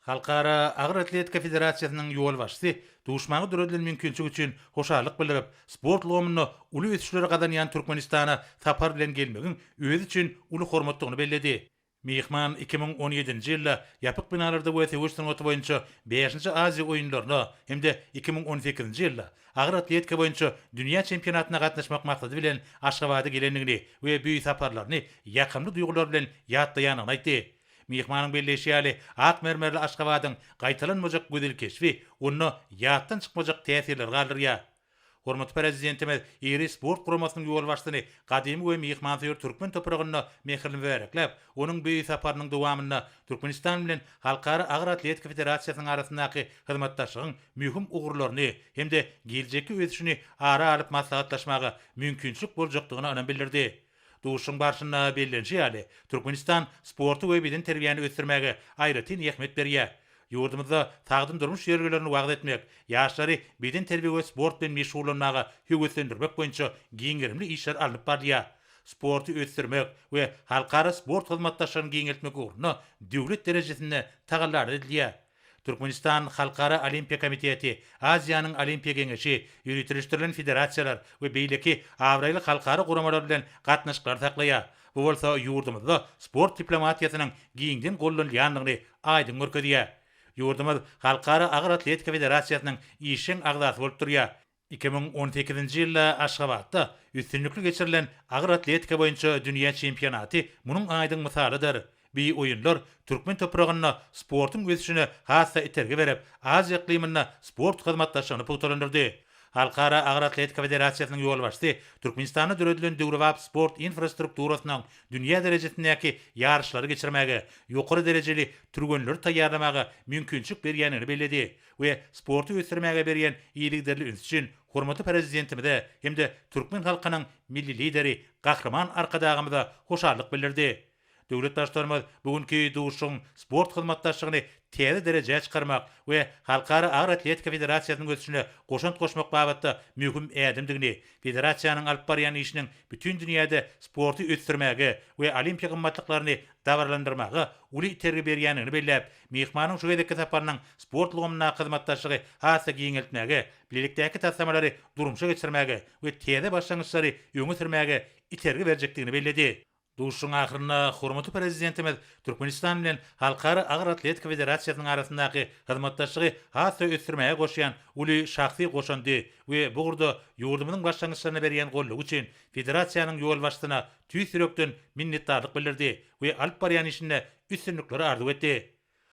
Halkara agyr atletika federasiýasynyň ýolbaşçysy duşmaga döredilen mümkinçilik üçin hoşallyk bildirip, sport ulgamynda uly ösüşleri gazanýan Türkmenistana sapar bilen gelmegiň özi üçin uly hormatdygyny belledi. Myhman iki müň on ýedinji ýylda ýapyk binalarda we söweş sungaty boýunça bäşinji Aziýa oýunlaryna hem-de iki müň on sekizinji ýylda agyr atletika boýunça dünýä çempionatyna gatnaşmak maksady bilen Aşgabada gelendigini we bu saparlaryny ýakymly duýgular bilen ýatlaýandygyny aýtdy. Myhmanyň belleýşi ýaly, ak mermerli Aşgabadyň gaýtalanmajak gözel keşbi onda ýatdan çykmajak täsirler galdyrýar. Hormatly Prezidentimiz iri sport guramasynyň ýolbaşçysyny gadymy we myhmansöýer türkmen topragynda mähirli mübärekläp, onuň beýik saparynyň dowamynda Türkmenistan bilen Halkara agyr atletika federasiýasynyň arasyndaky hyzmatdaşlygyň möhüm ugurlaryny hem-de geljekki ösüşini ara alyp maslahatlaşmaga mümkinçilik boljakdygyna ynam bildirdi. Duşuşygyň barşynda bellenişi ýaly, Türkmenistan sporty we bedenterbiýäni ösdürmäge aýratyn ähmiýet berýär. Ýurdumyzda sagdyn durmuş ýörelgelerini wagyz etmek, ýaşlary bedenterbiýe we sport bilen meşgullanmaga höweslendirmek boýunça giň gerimli işler alnyp barylýar. Sporty ösdürmek we halkara sport hyzmatdaşlygyny giňeltmek ugrunda döwlet derejesinde tagallalar edilýär. Türkmenistan Halkara Olimpiýa komiteti, Aziýanyň Olimpiýa geňeşi, ýöriteleşdirilen federasiýalar we beýleki abraýly halkara guramalar bilen gatnaşyklary saklaýar, bu bolsa ýurdumyzda sport diplomatiýasynyň giňden gollanylýandygyny aýdyň görkezýär. Ýurdumyz Halkara agyr atletika federasiýasynyň işjeň agzasy bolup durýar. Iki müň on sekizinji ýylda Aşgabatda üstünlikli geçirilen agyr atletika boýunça dünýä çempionaty munuň aýdyň mysalydyr. Bi oýunlar türkmen topragynda sportuň ösüşine has-da itergi berip, Aziýa yklymynda sport hyzmatdaşlygyny pugtalandyrdy. Halkara agyr atletika federasiýasynyň ýolbaşçysy Türkmenistanda döredilen döwrebap sport infrastrukturasynyň dünýä derejesindäki ýaryşlary geçirmäge, ýokary derejeli türgenleri taýýarlamaga mümkinçilik berýändigini belledi. we sporty ösdürmäge berýän yzygiderli üns üçin hormatly Prezidentimize hem-de türkmen halkynyň Milli Lideri Gahryman Arkadagymyza hoşallyk bildirdi. Döwlet Baştutanymyz bu günki duşuşygyň sport hyzmatdaşlygyny täze derejä çykarmak we Halkara agyr atletika federasiýasynyň ösüşine goşant goşmak babatda möhüm ädimdigini, federasiýanyň alyp barýan işiniň bütin dünýäde sporty ösdürmäge we olimpiýa gymmatlyklaryny dabaralandyrmaga uly itergi berýändigini belläp, Myhmanyň şu gezekki saparynyň sport ulgamyndaky hyzmatdaşlygy has-da giňeltmäge, bilelikdäki taslamalary durmuşa geçirmäge we täze başlangyçlary öňe sürmäge itergi berjekdigini belledi. Duşuşygyň ahyrynda hormatly Prezidentimiz Türkmenistan bilen Halkara agyr atletika federasiýasynyň arasyndaky hyzmatdaşlygy has-da ösdürmäge goşýan uly şahsy goşandy we bu ugurda ýurdumyzyň başlangyçlaryna berýän goldawy üçin federasiýanyň ýolbaşçysyna tüýs ýürekden minnetdarlyk bildirdi we alyp barýan işinde üstünlikleri arzuw etdi.